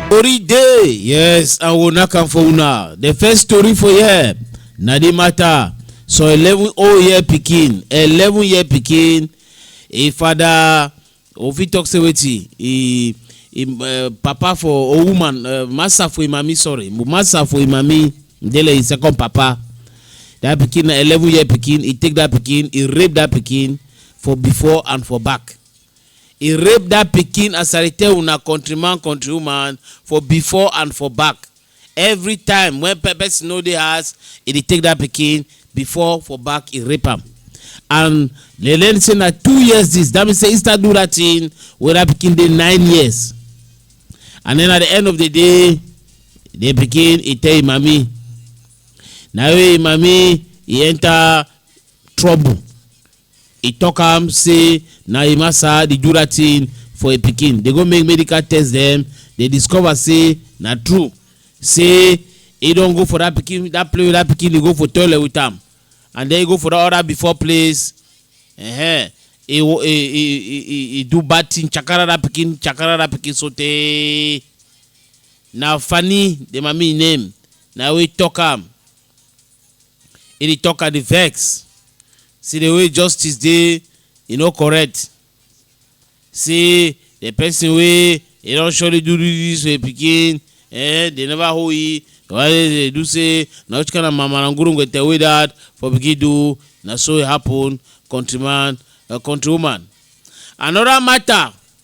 tori dey yes and we will knack am for una the first story for here na the matter so eleven old year pikin eleven year pikin e father we fit talk say wetin e e uh, papa for a woman uh, master for imami sorry master for imami ndele his second papa that pikin na eleven year pikin he take that pikin he rape that pikin for before and for back he rape that pikin as i dey tell una countryman countrywoman for before and for back every time when pe- person no dey house e dey take that pikin before for back e rape am and they learn say na two years this that mean say he start do that thing wey that pikin dey nine years and then at the end of the day the pikin e tell him mami na wey him mami e enter trouble e tok am say na im asa di jura tin for im pikin dey go make medical test dem dey discover say na true say e don go for dat pikin dat place wey dat pikin dey go for toilet with am and den e go for dat other before place -huh. e e e e do bad tin chakara dat pikin chakara dat pikin so tey na fani di mami name na wey tok am. e dey talk and dey vex see the way justice dey e no correct say the person wey e don surely do this to im pikin eh they never hold e why they do say na which kind of mamarangurungete wey that for pikin do na so e happen countryman uh, countrywoman another matter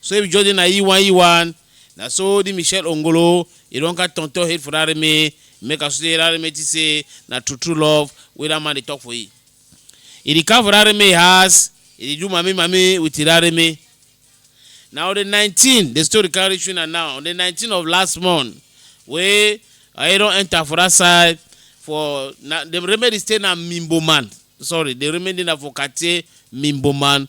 So if Jordan na Iwan Iwan, na so the Michelle Ongolo, he don got turn turn head for that me, make us say that me say na true true love wey that man dey talk for he. He dey come for that me house, he dey do mami mami with that me. Now on the 19, the story carry reach una now. On the 19 of last month, wey I don enter for that side for na the remedy stay na Mimboman. Sorry, the remedy na for Katie Mimboman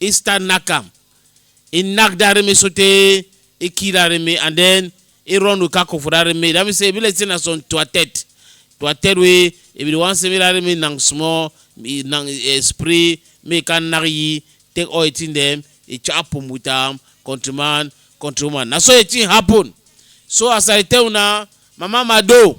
Easter knack am. He knack that reme sotey he kill that reme and then he run Lukaku for that reme. That mean say e be like say na some tuatet. Tuatet wey e be the one say make that reme knack small, e knack e spray, make e come knack yi, take all the thing dem, e chop am with am, countryman, countrywoman. Na so the thing happen. So as I dey tell una, Mama Mado,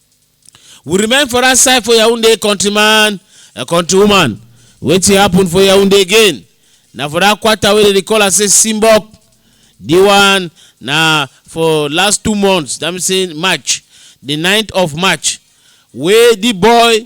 we remain for dat side for yaounde countryman and countrywoman wetin happen for yaounde again na for dat quarter wey dem dey call am say simbok di one na for last two months that mean say march di 9th of march wey di boy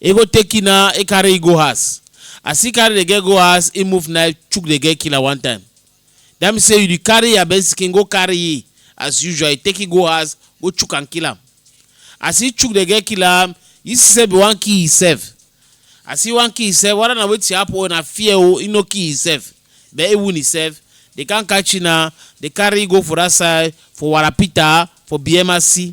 e go take key na e carry e go house as e carry the girl go house e move knife chook the girl killer one time that mean say you dey carry your best skin go carry e as usual you take e go house go chook am kill am as e chook the girl kill am e see say be wan kill himself as e wan kill himself whether na wetin happen o na fear o e no kill himself but e wound himself they come catch e na they carry e go for that side for warapita for bmc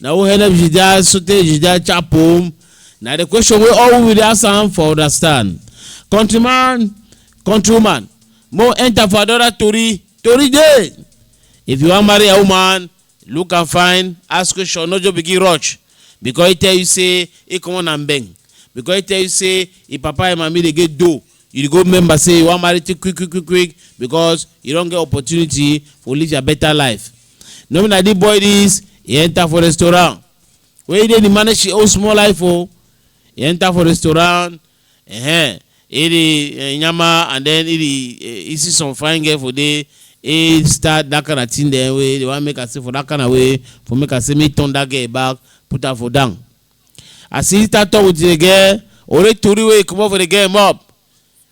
na who help jida sotey jida chap home na the question wey all we dey ask am for understand countryman countrywoman mo enter for another tori tori dey if you wan marry a woman look am fine ask question no just begin rush because e tell you say e comot na mbeng because e tell you say e papa and mami dey get dough you go remember say you wan marry too quick quick quick quick because you don get opportunity for live your better life no be na the boy this he enter for restaurant wey dey dey manage him own small life o he enter for restaurant uh -huh. he dey uh, nyama and then he dey uh, he see some fine girl for there he start that kind of thing then wey dey wan make am say for that kind of way for make am say make turn that girl back put am for down I see that talk with the girl. Ore tori wey comot for the girl mouth.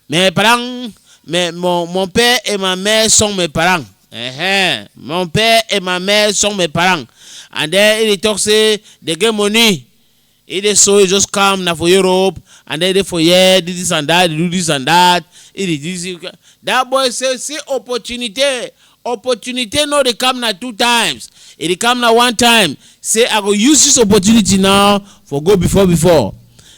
Mes parents, mes, mon, mon père et ma mère sont mes parents. Uh-huh. Mon père et ma mère sont mes parents. And then he dey talk say they get money. He dey so he just come na for Europe and then he dey for here do this and that, dey do this and that. He dey do this. That boy say see opportunity. opportunity no dey come na two times e dey come na one time say i go use this opportunity now for go before before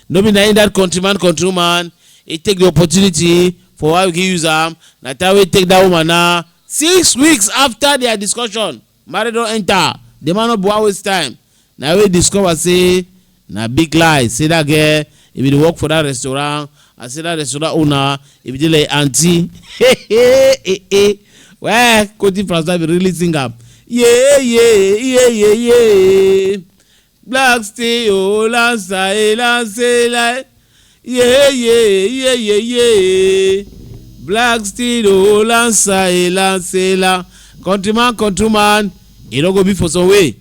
no be na in that country man country woman e take the opportunity for why we can use am na time wey take that woman na six weeks after their discussion marriage don enter the man no be wan waste time na we discover say na big lie say that girl e bin dey work for that restaurant and say that restaurant owner e bin dey like aunty well kotin francois bin really sing am yeah yeah yeah yeah yeah black stay o lansa e lansa e lai yeah yeah yeah yeah yeah black stay o lansa e lansa e la countryman countryman e no go be for some way.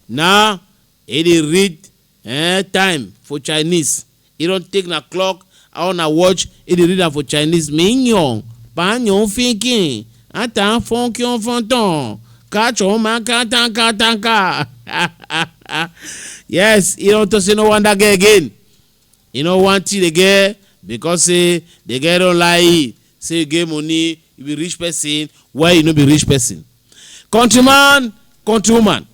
Now e dey read eh time for Chinese e don take na clock I on na watch e dey read am for Chinese Ming yong pa nyong fin kin a tan fon kion fon ton ka chon ma ka tan ka tan ka yes e don talk say no wan that girl again e no wan tea the girl because say the girl don lie say you get money you be rich person why you no be rich person. Countryman, countrywoman,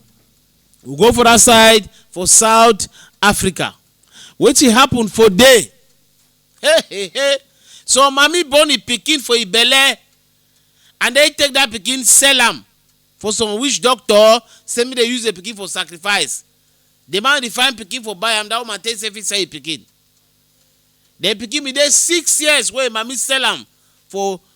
we go for that side for South Africa. Wetin happen for there? Hey, hey, hey. So mommy born im pikin for im belle and then take that pikin sell am for some witch doctor say make dey use the pikin for sacrifice. The man dey find pikin for buy am, that woman take say fit sell im pikin. The pikin bin dey six years wey im mommy sell am for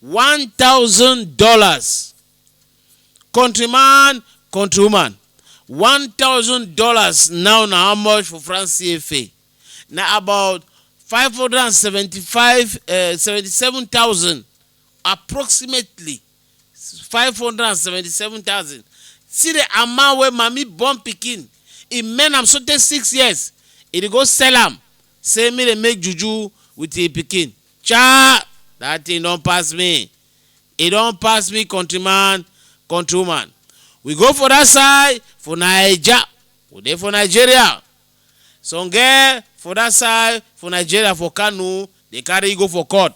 one thousand dollars country man country woman one thousand dollars now na how much for france cfa na about five hundred and seventy-five seventy-seven thousand approximately five hundred and seventy-seven thousand see the amount wey mami born pikin e men am sotey six years e dey go sell am say make dem make juju with im pikin Chai! Dat thing don pass me. E don pass me countryman, countrywoman. We go for dat side for Naija, we dey for Nigeria. Some girl for dat side for Nigeria for Kano dey carry go for court.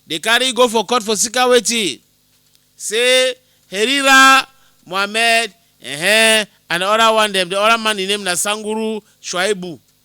Dey carry go for court for sika wetin? Say Herira Mohammed um and the other one dem, the other man im name na Sanguru Shuaibu.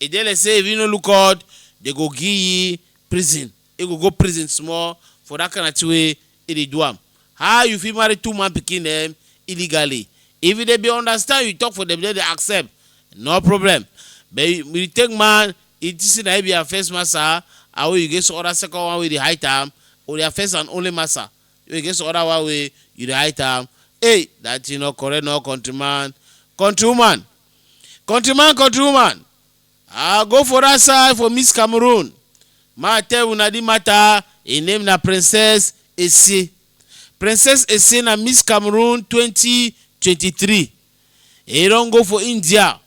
E dey like say if he no look odd, dey go give he prison. He go go prison small for that kind of thing wey he dey do am. How you fit marry two man pikin dem illegally? If he dey be understand you talk for dem dem dey accept no problem but you take man you think say na he be your first massa and wey you get some other second one wey you dey hide am or your first and only massa wey you get some other one wey you dey hide am hey that thing no correct no country man, country woman country man country woman i go for dat side for miss cameroon ma tell una di matter im name na princess ese princess ese na miss cameroon 2023 e don go for india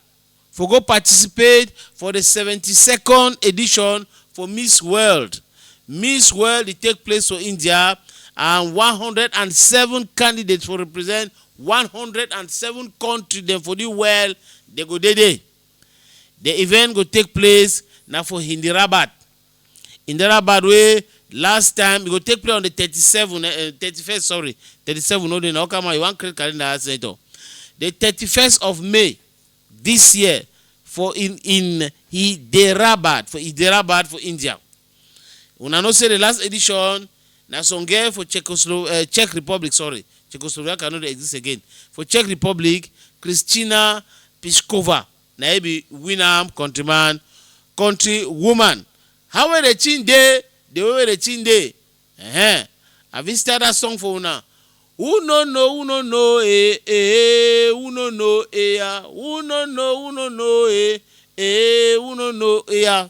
for go participate for di 72nd edition for miss world miss world e take place for india and 107 candidates for represent one hundred and seven kontri dem for di world dey go dey dey. Di event go take place na for Hyderabad, Hyderabad wey last time e go take place on di thirty seven thirty first sorry thirty seven no dey na Okama you wan create calendar add senator di thirty first of May dis year for in in Hyderabad for Hyderabad for India. Una know say the last edition na some girl for Czechoslo uh, Czech Republic, sorry, Czechoslovakia no dey exist again. For Czech Republic, Christina Piskova na e be win am countryman, country woman. How wey the chin dey, the way wey the chin dey. Uh-huh. I fit start that song for una. Who no know, who no know, eh, eh, who no know, eh, ah, who no know, who no know, eh, eh, who no know, eh, ah.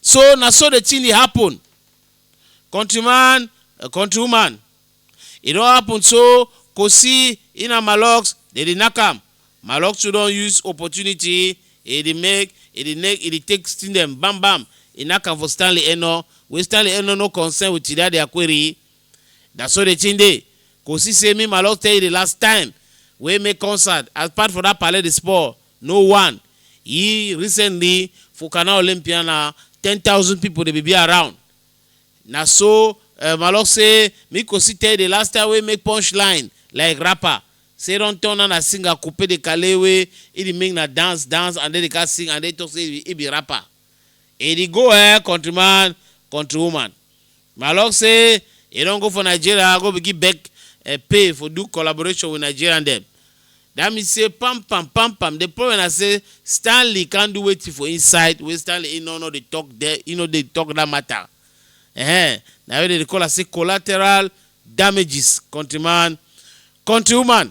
so na so the thing dey happen countryman uh, countrywoman e don happen so kosi ina malox dey dey knack am malox too don use opportunity e dey make e dey make e dey take sting dem bam bam e knack am for stanley eno wey stanley eno no concern with chidadi akweri na so the thing dey kosi say me malox tell you the last time wey make concert as part for that pale the sport No one Yi recently for Canal Olympia na ten thousand people dey be be around Na so eh Malok say me Kosi tell the last time wey make punch line like rapper Say don turn na na singer Kupe the Kale wey he the make na dance dance and then he ka sing and then he talk say he be rapper. E di go eh countryman, countrywoman. My luck say e don go for Nigeria go begin beg eh pay for do collaboration with Nigerian dem. Dat mean say pam pam pam pam the problem na say Stanley can't do wetin for inside wey Stanley e no no dey talk there e no dey talk dat matter eh na wey dem dey call am say collateral damages countryman, countrywoman.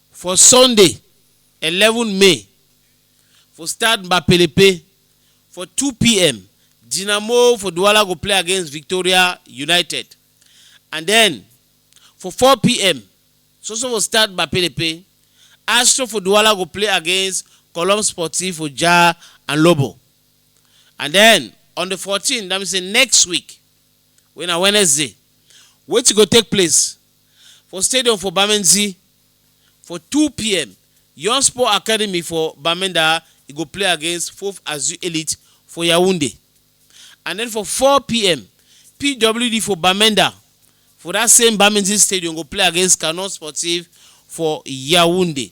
For Sunday, eleven May, for Stade Mbapelepe for two pm, Dinamo for Douala go play against Victoria United. And then, for four pm, so so for Stade Mbapelepe, Astro for Douala go play against Colombe Sportif for Jah and Lobo. And then, on the fourteen, that means say next week, wey na Wednesday, wetin go take place for stadium for Bamenzi for two pm. Young Sport Academy for Bamenda e go play against Fof Azu Elite for Yaounde. And then for four pm, PWD for Bamenda for that same Bamenzi stadium go play against Canon Sportive for Yaounde.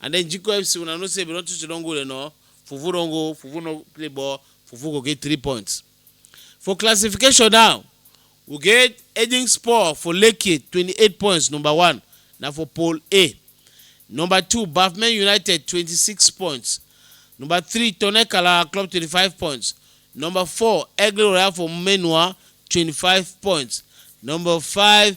and then GQFC una know say Benin City don go there now. Fufu don go, Fufu no play ball, Fufu go get three points. For classification now, we get Edin Sport for Lekki 28 points number one na for Pool A. Number two Bafmen United 26 points. Number three Tonekala Club 25 points. Number four Aigle Royal for Menua 25 points. Number five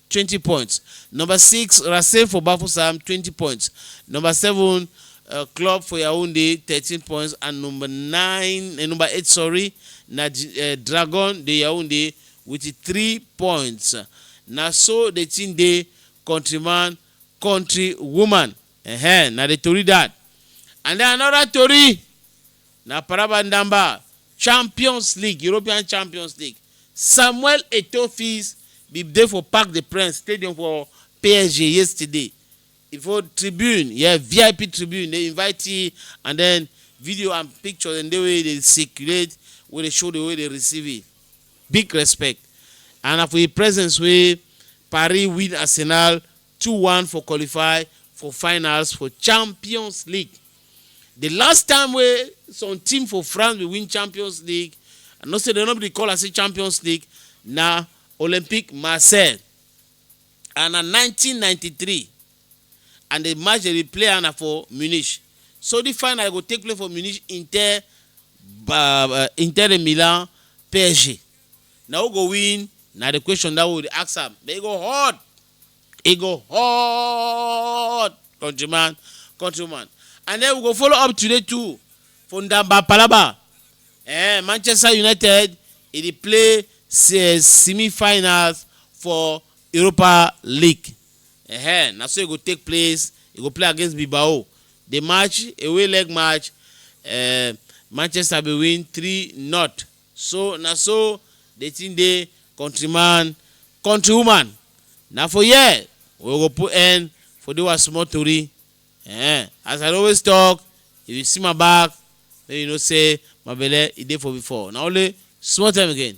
twenty points number six Racing for Bafusam twenty points number seven uh, Club for Yaoundé thirteen points and number nine uh, number eight sorry na uh, Dragon de Yaoundé with three points na so the thing dey countryman country woman uh -huh, na the tori that and then another tori na Paraba Ndamba Champions League, European Champions League, Samuel Eto'o Fils bin dey for Parc des Princes stadium for PSG yesterday. E for tribune, yeah, VIP tribune, the invitee and then video and picture dem dey wey dey circulate wey dey show the way dey receive it. Big respect and na for im presence wey Paris win Arsenal two one for qualify for finals for champions league the last time wey some team for france bin win champions league i know say dem no bin dey call am say champions league na olympique marseille and na 1993 and the match dem dey play am na for munich so the final go take place for munich inter ba- uh, inter de milan psg na who go win na the question that we dey ask am but e go hot e go hot country man country woman and then we go follow up today too for ndamba palaba eh manchester united e dey play se- semi-finals for europa league eh na so e go take place e go play against bilbao the match away leg match eh manchester bin win three not so na so the thing dey country man Country woman, na for here we go put end for dis our small tori. Ehen, as I dey always talk, if you see my back, make you know say my belle e dey for before. Na only small time again.